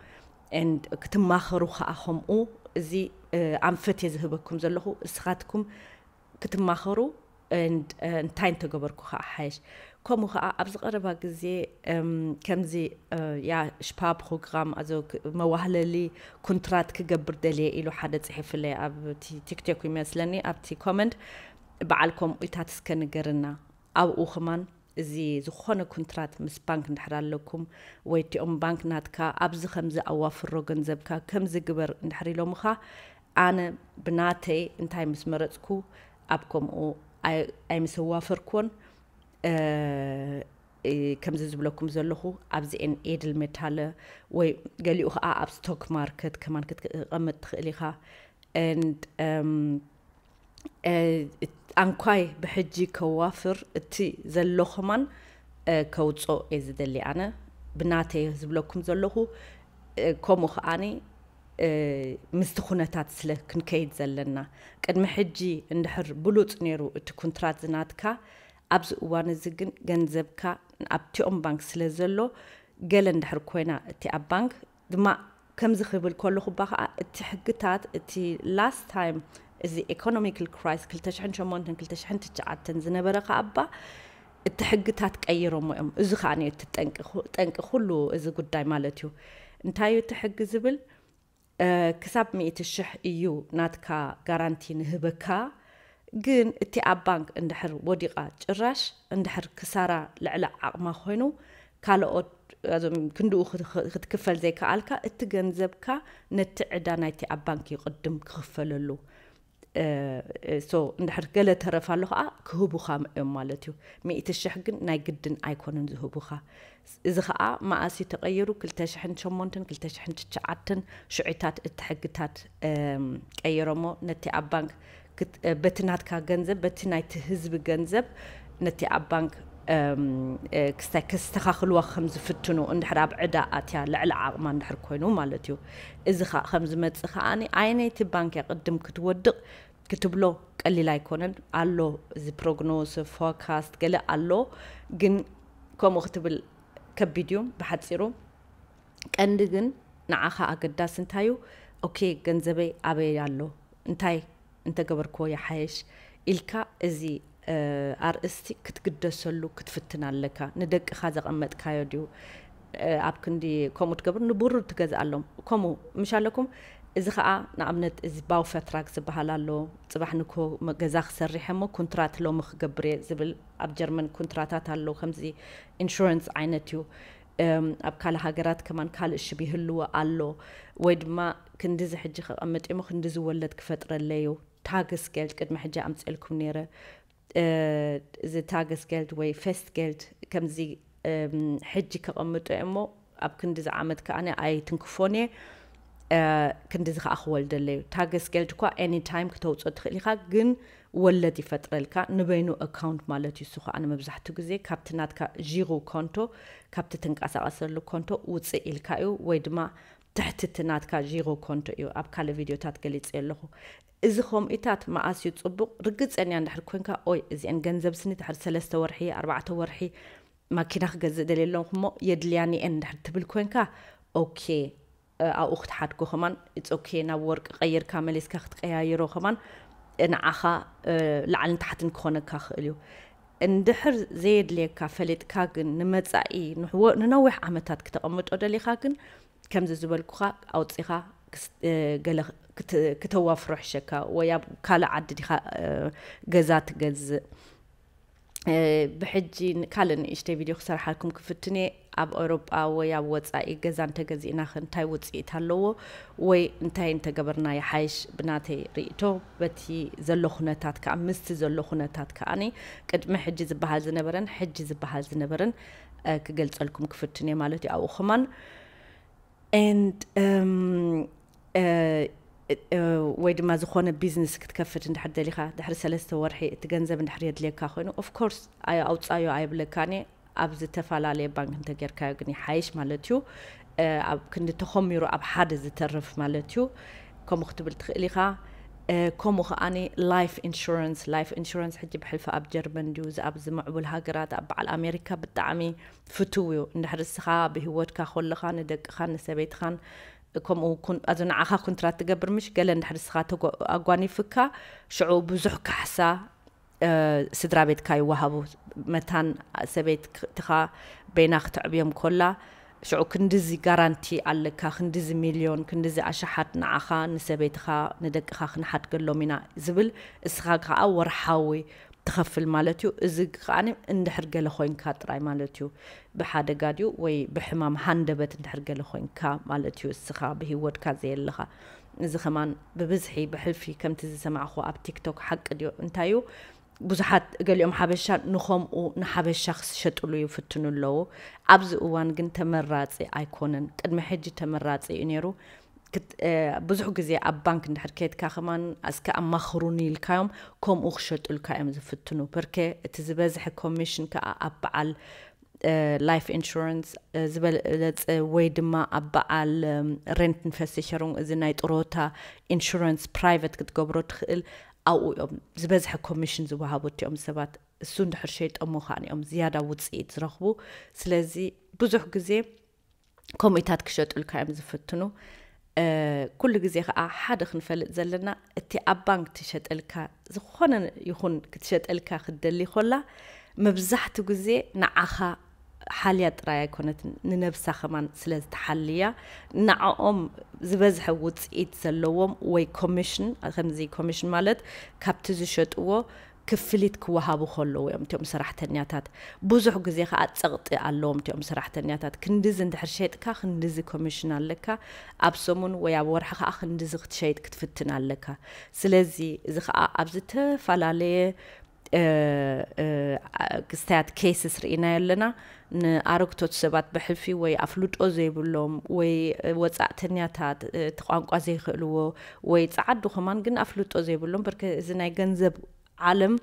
and ክትማኸሩ ከኣ ከምኡ እዚ ኣንፈት እየ ዝህበኩም ዘለኹ እስኻትኩም ክትማኸሩ እንታይ እንተገበርኩ ከኣ ሓየሽ ከምኡ ከኣ ኣብዚ ቀረባ ግዜ ከምዚ ያ ሽፓፕሮግራም ኣዞ መዋህለሊ ኩንትራት ክገብር ደልየ ኢሉ ሓደ ጽሒፍለይ ኣብቲ ቲክቶክ ይመስለኒ ኣብቲ ኮመንት በዓል ከምኡታት እስከ ንገርና ኣብኡ ኽማን እዚ ዝኾነ ኩንትራት ምስ ባንክ እንድሕር ኣለኩም ወይ እቲኦም ባንክ ናትካ ኣብዚ ከምዚ ኣዋፍሮ ገንዘብካ ከምዚ ግበር እንድሕር ኢሎምኻ ኣነ ብናተይ እንታይ ምስ መረጽኩ ኣብ ከምኡ ኣይምሰዋፈርክዎን ከምዚ ዝብለኩም ዘለኹ ኣብዚኤን ኤድል ሜታለ ወይ ገሊኡ ከዓ ኣብ ስቶክ ማርከት ከማን ክትቀመጥ ትኽእል ኢኻ ኣንኳይ ብሕጂ ከዋፍር እቲ ዘሎ ከማን ከውጾ እየ ዝደሊ ኣነ ብናተይ ዝብለኩም ዘለኹ ከምኡ ከዓኒ ምስቲ ኩነታት ስለ ክንከይድ ዘለና ቅድሚ ሕጂ እንድሕር ብሉጽ ነይሩ እቲ ኩንትራት ዝናትካ ኣብዚ እዋን እዚ ግን ገንዘብካ ኣብቲኦም ባንክ ስለ ዘሎ ገለ እንድሕር ኮይና እቲ ኣብ ባንክ ድማ ከምዚ ክብል ከለኹ እባ ከኣ እቲ ሕግታት እቲ last time እዚ economical crisis ክልተ ሽሕን ሸሞንተን ክልተ ሽሕን ትሽዓተን ዝነበረ ከኣ እባ እቲ ሕግታት ቀይሮሞ እዮም እዚ ከኣ እዩ እቲ ጠንቂ ጠንቂ ኩሉ እዚ ጉዳይ ማለት እዩ እንታይ እዩ እቲ ሕጊ ዝብል ክሳብ ሚእቲ ሽሕ እዩ ናትካ ጋራንቲ ንህበካ ግን እቲኣ ባንክ እንድሕር ወዲቓ ጭራሽ እንድሕር ክሳራ ልዕሊ ዓቕማ ኮይኑ ካልኦት እዞም ክንድኡ ክትክፈል ዘይከኣልካ እቲ ገንዘብካ ነቲ ዕዳ ናይቲ ኣብ ባንክ እዩ ቅድም ክኽፈለሉ ሶ እንድሕር ገለ ተረፍ ኣሎ ከዓ ክህቡኻ እዮም ማለት እዩ ሚእቲ ሽሕ ግን ናይ ግድን ኣይኮኑን ዝህቡኻ እዚ ከዓ መኣስ እዩ ተቐይሩ ክልተ ሽሕን ሸሞንትን ክልተ ሽሕን ትሽዓትን ሽዑታት እቲ ሕግታት ቀይሮሞ ነቲ ኣብ ባንክ በቲ ናትካ ገንዘብ በቲ ናይቲ ህዝቢ ገንዘብ ነቲ ኣብ ባንክ ክስታይ ከስተኻኽልዋ ከም ዝፍትኑ እንድሕር ኣብ ዕዳ ኣትያ ልዕሊ ዓቕማ እንድሕር ኮይኑ ማለት እዩ እዚ ከዓ ከም ዝመፅእ ከዓ ኣየነይቲ ባንክ እያ ቅድም ክትወድቕ ክትብሎ ቀሊል ኣይኮነን ኣሎ እዚ ፕሮግኖስ ፎካስት ገለ ኣሎ ግን ከምኡ ክትብል ከቢድ እዩ ብሓፂሩ ቀንዲ ግን ንዓኻ ኣገዳሲ እንታይ እዩ ኦኬ ገንዘበይ ኣበይ ኣሎ እንታይ እንተ ገበርክዎ ይሓይሽ ኢልካ እዚ ኣርእስቲ ክትግደሰሉ ክትፍትን ኣለካ። ንደቅኻ ዘቐመጥካዮ ድዩ ኣብ ክንዲ ከምኡ ትገብር ንቡሩድ ትገዝኣሎም ከምኡ ምሽ ኣለኩም። እዚ ከኣ ንኣብነት እዚ ባውፈትራግ ዝበሃል ኣሎ ጽባሕ ንግሆ ገዛ ክሰርሕ እሞ ኩንትራት ሎሚ ክገብር እየ ዝብል ኣብ ጀርመን ኩንትራታት ኣሎ ከምዚ ኢንሹረንስ ዓይነት እዩ። ኣብ ካልእ ሃገራት ከማን ካልእ ሽም ይህልዎ ኣሎ ወይ ድማ ክንድዚ ሕጂ ከቐምጥ እየሞ ክንድዚ ወለድ ክፈጥረለዩ ታግስ ጌልድ ቅድሚ ሕጂ ኣምጺኤልኩም ነይረ እዚ ታግስ ጌልድ ወይ ፌስት ጌልድ ከምዚ ሕጂ ከቐምጦ እየሞ ኣብ ክንድዚ ዓመት ከኣ ኣይትንክፎን እየ ክንድዚ ከዓ ክወልደለዩ ታገስ ገልድ እኳ ኤኒ ታይም ክተውፅኦ ትኽእል ኢኻ ግን ወለድ ይፈጥረልካ ንበይኑ ኣካውንት ማለት እዩ እሱ ከኣ ንመብዛሕቱ ግዜ ካብቲ ናትካ ዢሩ ኮንቶ ካብቲ ትንቃሳቀሰሉ ኮንቶ ውጽእ ኢልካ እዩ ወይ ድማ ትሕቲ እቲ ናትካ ዢሩ ኮንቶ እዩ ኣብ ካልእ ቪድዮታት ገሊጸዮ ኣለኹ እዚ ኮምኢታት መኣስ እዩ ጽቡቅ ርግጸኛ እንድሕር ኮንካ ኦይ እዚኤን ገንዘብ ስኒ ድሕሪ ሰለስተ ወርሒ ኣርባዕተ ወርሒ ማኪና ክገዝእ ደልየ ኣለኹ እሞ የድልያኒ እየን እንድሕር ትብል ኮንካ ኦኬ ኣብኡ ክትሓድጎ ከማን ኢትስ ኦኬ ናብ ወርቂ ቀይርካ መሊስካ ክትቀያይሮ ከማን ንዓኻ ላዕልን ታሕትን ክኾነካ ክእል እዩ እንድሕር ዘየድልየካ ፈሊጥካ ግን ንመጻኢ ንነዊሕ ዓመታት ክተቐምጦ ደሊኻ ግን ከምዚ ዝበልኩኻ ኣውጺኻ ገለ ክተዋፍሮ ይሕሸካ ወይ ኣብ ካልእ ዓዲ ዲኻ ገዛ ትገዝእ ብሕጂ ካልእ ንእሽተይ ቪድዮ ክሰርሓልኩም ክፍትን እየ ኣብ ኤውሮጳ ወይ ኣብ ወጻኢ ገዛ እንተገዚእና ከ እንታይ ውጽኢት ኣለዎ ወይ እንታይ እንተገበርና ይሓይሽ ብናተይ ርእቶ በቲ ዘሎ ኩነታት ከዓ ምስቲ ዘሎ ኩነታት ከዓኒ ቅድሚ ሕጂ ዝበሃል ዝነበረን ሕጂ ዝበሃል ዝነበረን ክገልጸልኩም ክፍትን እየ ማለት እዩ ኣብኡ ከማን ወይ ድማ ዝኾነ ቢዝነስ ክትከፍት እንድሕር ደሊኻ ድሕሪ ሰለስተ ወርሒ እቲ ገንዘብ እንድሕር የድልየካ ኮይኑ ኦፍኮርስ ኣውፃዮ ኣይብለካን እየ ኣብ ዝተፈላለየ ባንክ እንተጌርካዮ ግን ይሓይሽ ማለት እዩ ኣብ ክንዲ ተኾሚሩ ኣብ ሓደ ዝተርፍ ማለት እዩ ከምኡ ክትብል ትኽእል ኢኻ ከምኡ ከዓኒ ላይፍ ኢንሹራንስ ላይፍ ኢንሹራንስ ሕጂ ብሕልፊ ኣብ ጀርመን ድዩ ኣብ ዝምዕቡል ሃገራት ኣብ በዓል ኣሜሪካ ብጣዕሚ ፍቱው እዩ እንድሕር እስኻ ብሂወትካ ኮለኻ ንደቅኻን ንሰበይትኻን ከምኡ ኩን ኣዚ ንዓኻ ኩንትራት ትገብር ምሽ ገለ እንድሕር እስኻ ተጎ ኣጓኒፍካ ሽዑ ብዙሕ ካሕሳ ስድራ ቤትካ ይዋሃቡ መታን ሰበይት ትኻ በይና ክትዕብዮም ኮላ ሽዑ ክንድዚ ጋራንቲ ኣለካ ክንድዚ ሚልዮን ክንድዚ ኣሽሓት ንዓኻ ንሰበይትኻ ንደቅኻ ክንሓድገሎም ኢና ዝብል እስኻ ከኣ ወርሓዊ ትኸፍል ማለት እዩ። እዚ ከኣ እንድሕር ገለ ኮይንካ ጥራይ ማለት እዩ። ብሓደጋ ድዩ ወይ ብሕማም ሃንደበት እንድሕር ገለ ኮይንካ ማለት እዩ እስኻ ብሂወትካ ዘየለኻ። እዚ ከማን ብብዝሒ ብሕልፊ ከምቲ ዝሰማዕክዎ ኣብ ቲክቶክ ሓቂ ድዩ እንታይ እዩ ብዙሓት እገሊኦም ሓበሻ ንኸምኡ ንሓበሻ ክስሸጥሉ ይፍትኑ ኣለዉ። ኣብዚ እዋን ግን ተመራጺ ኣይኮነን። ቅድሚ ሕጂ ተመራጺ እዩ ነይሩ። ብዙሕ ግዜ ኣብ ባንክ እንድሕር ከድካ ከማን ኣስከ ኣማኽሩኒ ኢልካዮም ከምኡ ክሸጡልካ እዮም ዝፍትኑ ፐርከ እቲ ዝበዝሐ ኮሚሽን ከዓ ኣብ በዓል ላይፍ ኢንሹራንስ ዝበለፀ ወይ ድማ ኣብ በዓል ሬንትን ፈሲሸሩን እዚ ናይ ጥሮታ ኢንሹራንስ ፕራይቨት ክትገብሮ ትኽእል ኣብኡ እዮም ዝበዝሐ ኮሚሽን ዝወሃቡ እቲኦም ሰባት እሱ እንድሕር ሸይጠሞ ከዓን እዮም ዝያዳ ውፅኢት ዝረኽቡ ስለዚ ብዙሕ ግዜ ከምኡታት ክሸጡልካ እዮም ዝፍትኑ ኩሉ ግዜ ከዓ ሓደ ክንፈልጥ ዘለና እቲ ኣብ ባንክ ትሸጠልካ ዝኾነ ይኹን ክትሸጠልካ ክትደሊ ኮላ መብዛሕቱ ግዜ ንዓኻ ሓልያ ጥራይ ኣይኮነት ንነብሳ ከማን ስለ ዝተሓልያ ንዓኦም ዝበዝሐ ውፅኢት ዘለዎም ወይ ኮሚሽን ከምዚ ኮሚሽን ማለት ካብቲ ዝሸጥዎ ክፍሊት ክወሃቡ ከለዉ እዮም እቲኦም ሰራሕተኛታት። ብዙሕ ግዜ ከኣ ጸቕጢ ኣለዎም እቲኦም ሰራሕተኛታት። ክንድዚ እንድሕር ሸይጥካ ክንድዚ ኮሚሽን ኣለካ፣ ኣብ ሰሙን ወይ ኣብ ወርሒ ከኣ ክንድዚ ክትሸይጥ ክትፍትን ኣለካ። ስለዚ እዚ ከኣ ኣብ ዝተፈላለየ ክስታያት፣ cases፣ ርኢናዮ ኣለና። ንኣረግቶት ሰባት ብሕልፊ ወይ ኣፍልጦ ዘይብሎም ወይ ወጻእተኛታት እቲ ቋንቋ ዘይክእልዎ ወይ ጸዓዱ ከማን ግን ኣፍልጦ ዘይብሎም ብርክ እዚ ናይ ገንዘብ ዓለም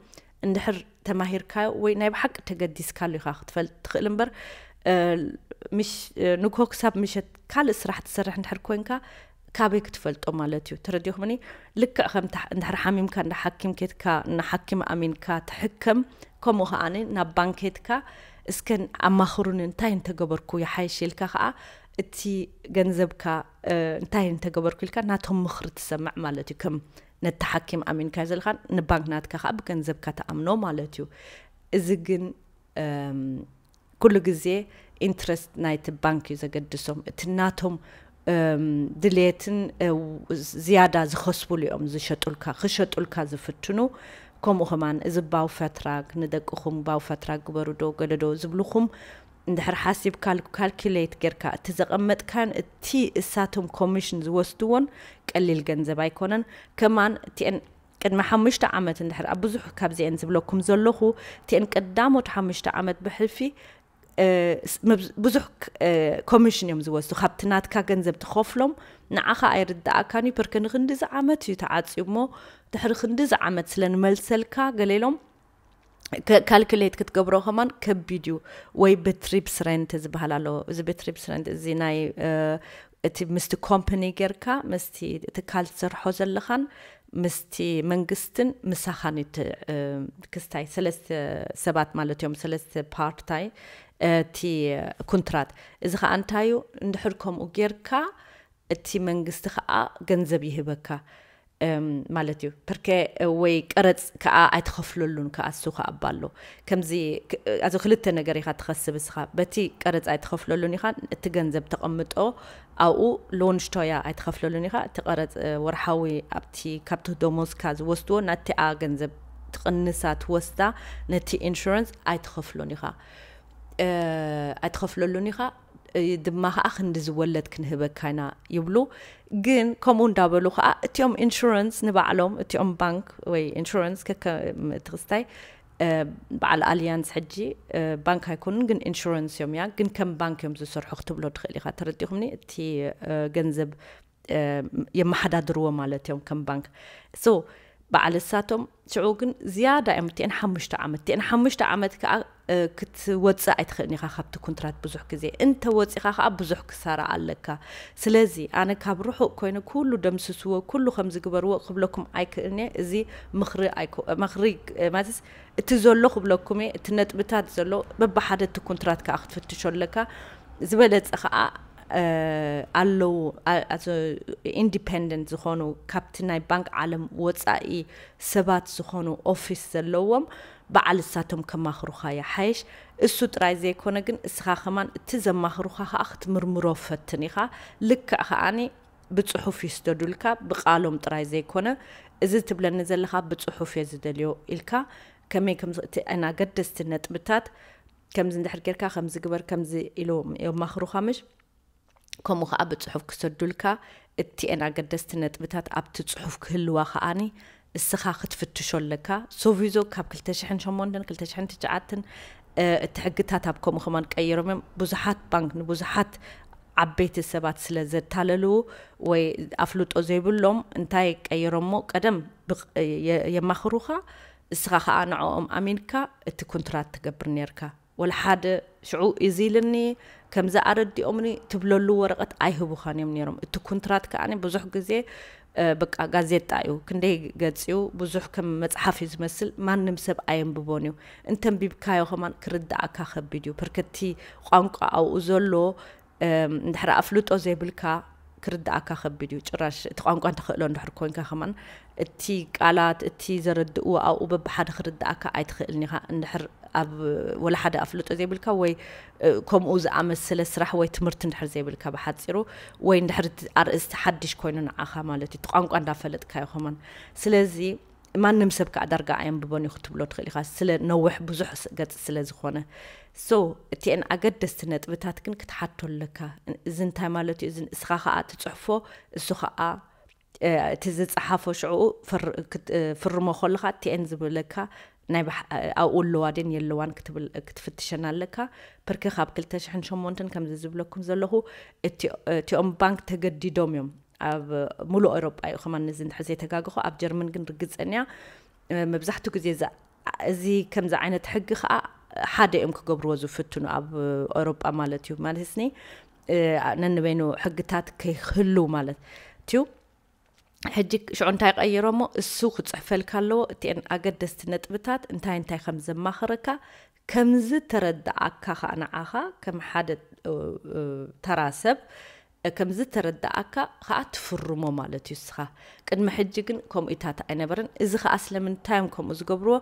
እንድሕር ተማሂርካዮ ወይ ናይ ብሓቂ ተገዲስካሉ ኢኻ ክትፈልጥ ትኽእል እምበር ምሽ ንግሆ ክሳብ ምሸት ካልእ ስራሕ ትሰርሕ እንድሕር ኮንካ ካበይ ክትፈልጦ ማለት እዩ ተረዲኹምኒ ልክዕ ከም እንድሕር ሓሚምካ እንዳ ሓኪም ኬትካ ንሓኪም ኣሚንካ ትሕከም ከምኡ ከዓ ናብ ባንክ ኬትካ እስከ ኣማኽሩኒ እንታይ እንተገበርኩ ይሓይሽ ኢልካ ከዓ እቲ ገንዘብካ እንታይ እንተገበርኩ ኢልካ ናቶም ምኽሪ ትሰምዕ ማለት እዩ ከም ነቲ ሓኪም ኣሚንካ ዘለካ ንባንክ ናትካ ከዓ ብገንዘብካ ተኣምኖ ማለት እዩ እዚ ግን ኩሉ ግዜ ኢንትረስት ናይቲ ባንክ እዩ ዘገድሶም እቲ ናቶም ድልየትን ዝያዳ ዝኸስቡሉ እዮም ዝሸጡልካ ክሸጡልካ ዝፍትኑ ከምኡ ከማን እዚ ባውፈትራግ ንደቅኹም ባውፈትራግ ግበሩዶ ገለዶ ዝብልኹም እንድሕር ሓሲብካ ካልኪሌት ጌርካ እቲ ዘቐመጥካን እቲ እሳቶም ኮሚሽን ዝወስድዎን ቀሊል ገንዘብ ኣይኮነን ከማን እቲኤን ቅድሚ ሓሙሽተ ዓመት እንድሕር ኣብ ብዙሕ ካብዚኤን ዝብለኩም ዘለኹ እቲኤን ቀዳሞት ሓሙሽተ ዓመት ብሕልፊ ብዙሕ ኮሚሽን እዮም ዝወስዱ ካብቲ ናትካ ገንዘብ ትኸፍሎም ንዓኻ ኣይርዳእካን እዩ ፐርከ ንክንድዚ ዓመት እዩ ተዓፅዩ እሞ ድሕሪ ክንድዚ ዓመት ስለ ንመልሰልካ ገለ ኢሎም ካልኩሌት ክትገብሮ ከማን ከቢድ እዩ ወይ ብትሪፕስ ረንት ዝበሃል ኣሎ እዚ ብትሪፕስ ረንት እዚ ናይ እቲ ምስቲ ኮምፕኒ ጌርካ ምስቲ ትካል ትሰርሖ ዘለኻን ምስቲ መንግስትን ምሳኻን እቲ ክስታይ ሰለስተ ሰባት ማለት እዮም ሰለስተ ፓርታይ እቲ ኩንትራት እዚ ከዓ እንታዩ እንድሕር ከምኡ ጌርካ እቲ መንግስቲ ከኣ ገንዘብ ይህበካ ማለት እዩ ፐርከ ወይ ቀረጽ ከኣ ኣይትኸፍለሉን ከኣ እሱ ከኣ እባ ኣሎ ከምዚ ኣዚ ክልተ ነገር ኢኻ ትኸስብ እስኻ በቲ ቀረጽ ኣይትኸፍለሉን ኢኻ እቲ ገንዘብ ተቐምጦ ኣብኡ ሎንሽቶያ ኣይትኸፍለሉን ኢኻ እቲ ቀረጽ ወርሓዊ ኣብቲ ካብቲ ዶሞዝካ ዝወስድዎ ናቲኣ ገንዘብ ትቕንሳ ትወስዳ ነቲ ኢንሹራንስ ኣይትኸፍሎን ኢኻ ኣይትኸፍለሉን ኢኻ ድማ ከኣ ክንዲ ዝወለድ ክንህበካ ኢና ይብሉ ግን ከምኡ እንዳበሉ ከኣ እቲኦም ኢንሹረንስ ንባዕሎም እቲኦም ባንክ ወይ ኢንሹረንስ ከከ እቲ ክስታይ በዓል ኣልያንስ ሕጂ ባንክ ኣይኮኑን ግን ኢንሹረንስ እዮም እያ ግን ከም ባንክ እዮም ዝሰርሑ ክትብሎ ትኽእል ኢኻ ተረዲኹምኒ እቲ ገንዘብ የመሓዳድርዎ ማለት እዮም ከም ባንክ so በዓል እሳቶም ሽዑ ግን ዝያዳ እዮም እትኤን ሓሙሽተ ዓመት እትኤን ሓሙሽተ ዓመት ከዓ ክትወፅእ ኣይትኽእልን ኢኻ ካብቲ ኩንትራት ብዙሕ ግዜ እንተ ወፂኻ ከዓ ብዙሕ ክሳራ ኣለካ ስለዚ ኣነ ካብ ርሑቕ ኮይኑ ኩሉ ደምስስዎ ኩሉ ከም ዝግበርዎ ክብለኩም ኣይክእልን እየ እዚ ምኽሪ ምኽሪ ማለትስ እቲ ዘሎ ክብለኩም እየ እቲ ነጥብታት ዘሎ በብሓደ እቲ ኩንትራት ከዓ ክትፍትሾ ኣለካ ዝበለፀ ከዓ ኣለዉ ኢንዲፐንደንት ዝኾኑ ካብቲ ናይ ባንክ ዓለም ወፃኢ ሰባት ዝኾኑ ኦፊስ ዘለዎም በዓል እሳቶም ከማኽሩኻ ይሓይሽ እሱ ጥራይ ዘይኮነ ግን እስኻ ከማን እቲ ዘማኽሩኻ ከዓ ክትምርምሮ ፈትን ኢኻ ልክዕ ከዓኒ ብፅሑፍ ይስደዱልካ ብቃሎም ጥራይ ዘይኮነ እዚ ትብለኒ ዘለኻ ብፅሑፍ እየ ዝደልዮ ኢልካ ከመይ ከምዚ እቲ ኣገደስቲ ነጥብታት ከምዚ እንድሕር ጌርካ ከምዚ ግበር ከምዚ ኢሉ የማኽሩኻ ምሽ ከምኡ ከዓ ብፅሑፍ ክሰዱልካ እቲኤን ኣገደስቲ ነጥብታት ኣብቲ ፅሑፍ ክህልዋ ከዓኒ እስኻ ክትፍትሾ ኣለካ ሶቪዞ ካብ 2008 2009 እቲ ሕግታት ኣብ ከምኡ ከማን ቀይሮም እዮም ብዙሓት ባንክ ንብዙሓት ዓበይቲ ሰባት ስለ ዘታለሉ ወይ ኣፍልጦ ዘይብሎም እንታይ ቀይሮሞ ቀደም የማኽሩኻ እስኻ ከኣ ንዕኦም ኣሚንካ እቲ ኩንትራት ትገብር ኔርካ ወላ ሓደ ሽዑ እዚ ኢልኒ ከምዚ ኣረዲኦምኒ ትብለሉ ወረቀት ኣይህቡኻን እዮም ኔሮም እቲ ኩንትራት ከኣ ብዙሕ ግዜ በቃ ጋዜጣ እዩ ክንደይ ገጽ እዩ ብዙሕ ከም መጽሓፍ እዩ ዝመስል ማንም ሰብ ኣየንብቦን እዩ እንተንቢብካዮ ከማን ክርዳኣካ ከቢድ እዩ ፐርከቲ ቋንቋ ኣብኡ ዘሎ እንድሕር ኣፍልጦ ዘይብልካ ክርድኣካ ከቢድ እዩ ጭራሽ እቲ ቋንቋ ተኽእሎ እንድሕር ኮንካ ከማን እቲ ቃላት እቲ ዘረድእዎ ኣብኡ በብሓደ ክርድኣካ ኣይትኽእልን ኢኻ እንድሕር ኣብ ወላ ሓደ ኣፍልጦ ዘይብልካ ወይ ከምኡ ዝኣመሰለ ስራሕ ወይ ትምህርቲ እንድሕር ዘይብልካ ብሓፂሩ ወይ እንድሕር ኣርእስቲ ሓድሽ ኮይኑ ንዓኻ ማለት እዩ እቲ ቋንቋ እንዳፈለጥካዮ ከማን ስለዚ ማንም ሰብ ከኣ ዳርጋ ኣየንብቦን እዩ ክትብሎ ትኽእል ኢኻ ስለ ነውሕ ብዙሕ ገጽ ስለ ዝኾነ ሶ እቲኤን ኣገደስቲ ነጥብታት ግን ክትሓቶ ኣለካ እዚ እንታይ ማለት እዩ እዚ እስኻ ከኣ ትጽሕፎ እሱ ከኣ እቲ ዝጸሓፎ ሽዕኡ ፍርሞ ከለኻ እቲኤን ዝብለካ ናይ ኣብኡ ኣለዋ ድን የለዋን ክትፍትሸን ኣለካ ፕርክ ካብ 208 ከምዚ ዝብለኩም ዘለኹ እቲኦም ባንክ ተገዲዶም እዮም ኣብ ሙሉእ ኤሮጳ እዩ ከማን እዚ እንድሕር ዘይተጋገኹ ኣብ ጀርመን ግን ርግጸን እያ መብዛሕትኡ ግዜ እዚ ከምዚ ዓይነት ሕጊ ከዓ ሓደ እዮም ክገብርዎ ዝፍትኑ ኣብ ኤሮጳ ማለት እዩ ማለት ስኒ ነንበይኑ ሕግታት ከይህሉ ማለት እዩ ሕጂ ሽዑ እንታይ ቀይሮ እሞ እሱ ክፅሕፈልካ ኣለዎ እቲአን ኣገደስቲ ነጥብታት እንታይ እንታይ ከም ዘማኽረካ ከምዝተረደኣካ ከኣ ንዓኻ ከም ሓደ ተራ ሰብ ከምዝተረደኣካ ከኣ ትፍርሞ ማለት እዩ እስኻ። ቅድሚ ሕጂ ግን ከምኡታት ኣይነበረን። እዚ ከኣ ስለምንታይ እዮም ከምኡ ዝገብርዎ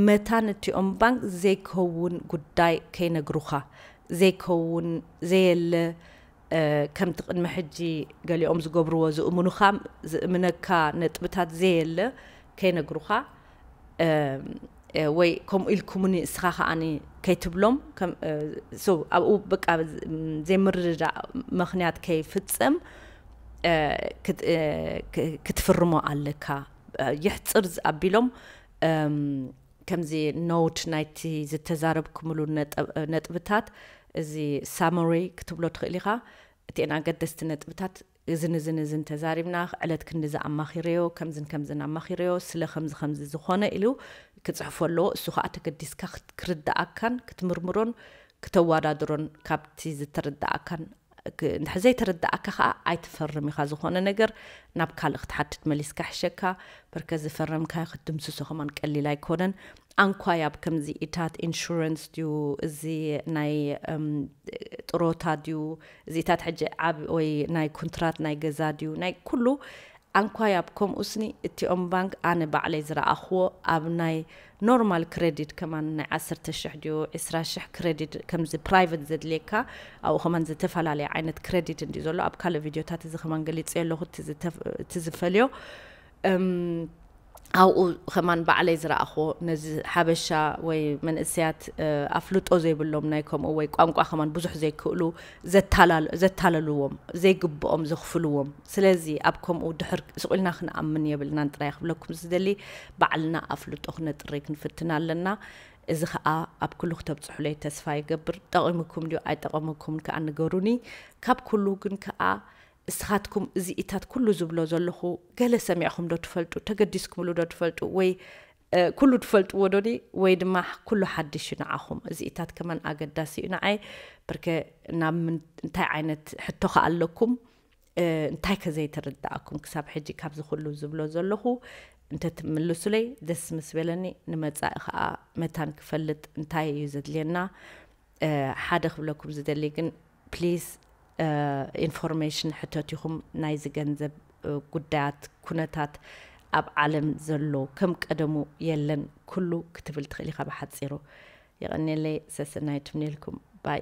መታን እቲኦም ባንክ ዘይከውን ጉዳይ ከይነግሩኻ፣ ዘይከውን ዘየለ ከምቲ ቅድሚ ሕጂ ገሊኦም ዝገብርዎ ዝእምኑኻ ዝእምነካ ነጥብታት ዘየለ ከይነግሩኻ፣ ወይ ከምኡ ኢልኩምኒ እስኻ ከዓኒ ከይትብሎም ኣብኡ በቃ ዘይምርድዳእ ምክንያት ከይፍፀም ክትፍርሞ ኣለካ ይሕፅር ኣቢሎም ከምዚ ኖት ናይቲ ዝተዛረብኩምሉ ነጥብታት እዚ ሳሞሪ ክትብሎ ትኽእል ኢኻ እቲኤን ኣገደስቲ ነጥብታት እዝን እዝን እዝን ተዛሪብና፣ ዕለት ክንድዚ ኣማኺረዮ፣ ከምዝን ከምዝን ኣማኺረዮ፣ ስለ ከምዚ ከምዚ ዝኾነ ኢሉ ክጽሕፎ ኣለዎ። እሱ ከኣ ተገዲስካ ክትርደኣካን ክትምርምሮን ክተዋዳድሮን ካብቲ ዝተረደኣካን እንድሕር ዘይተረደኣካ ከኣ ኣይትፈርም ኢኻ ዝኾነ ነገር ናብ ካልእ ክትሓትት መሊስካ ይሕሸካ በርከ ዝፈረምካዮ ክትድምስሶ ከማን ቀሊል ኣይኮነን ኣንኳይ ኣብ ከምዚ ኢታት ኢንሹረንስ ድዩ እዚ ናይ ጥሮታ ድዩ እዚታት ሕጂ ዓብ ወይ ናይ ኩንትራት ናይ ገዛ ድዩ ናይ ኩሉ ኣንኳይ ኣብ ከምኡ ስኒ እቲኦም ባንክ ኣነ ባዕለይ ዝረኣኽዎ ኣብ ናይ ኖርማል ክረዲት ከማን ናይ ዓሰርተ ሽሕ ድዩ ዕስራ ሽሕ ክረዲት ከምዚ ፕራይቨት ዘድልየካ ኣብኡ ከማን ዝተፈላለየ ዓይነት ክረዲት እንድዩ ዘሎ ኣብ ካልእ ቪድዮታት እዚ ከማን ገሊፀ ኣለኹ እቲ ዝፈልዮ ኣብኡ ከማን ባዕለይ ዝረኣኽዎ ነዚ ሓበሻ ወይ መንእሰያት ኣፍልጦ ዘይብሎም ናይ ከምኡ ወይ ቋንቋ ከማን ብዙሕ ዘይክእሉ ዘታለልዎም ዘይግብኦም ዘኽፍልዎም ስለዚ ኣብ ከምኡ ድሕር ስቑልና ክንኣምን የብልናን ጥራይ ክብለኩም ዝደሊ ባዕልና ኣፍልጦ ክነጥሪ ክንፍትን ኣለና እዚ ከዓ ኣብ ኩሉ ክተብፅሑለይ ተስፋ ይገብር ጠቒሙኩም ድዩ ኣይጠቐሙኩምን ከዓ ንገሩኒ ካብ ኩሉ ግን ከዓ እስኻትኩም እዚ ኢታት ኩሉ ዝብሎ ዘለኹ ገለ ሰሚዕኹም ዶ ትፈልጡ ተገዲስኩምሉ ዶ ትፈልጡ ወይ ኩሉ ትፈልጥዎ ዶኒ ወይ ድማ ኩሉ ሓድሽ እዩ ንዓኹም እዚ ኢታት ከመን ኣገዳሲ እዩ ንዓይ ብርከ ናብ እንታይ ዓይነት ሕቶ ከ ኣለኩም እንታይ ከ ዘይተረዳእኩም ክሳብ ሕጂ ካብዚ ኩሉ ዝብሎ ዘለኹ እንተትምልሱለይ ደስ ምስ በለኒ ንመጻኢ ከዓ መታን ክፈልጥ እንታይ እዩ ዘድልየና ሓደ ክብለኩም ዝደሊ ግን please ኢንፎርሜሽን ሕተቲኹም ናይዚ ገንዘብ ጉዳያት ኩነታት ኣብ ዓለም ዘሎ ከም ቀደሙ የለን ኩሉ ክትብል ትኽእል ኢኻ ብሓፂሩ የቐኔለይ ሰሰናይት ምኔልኩም ባይ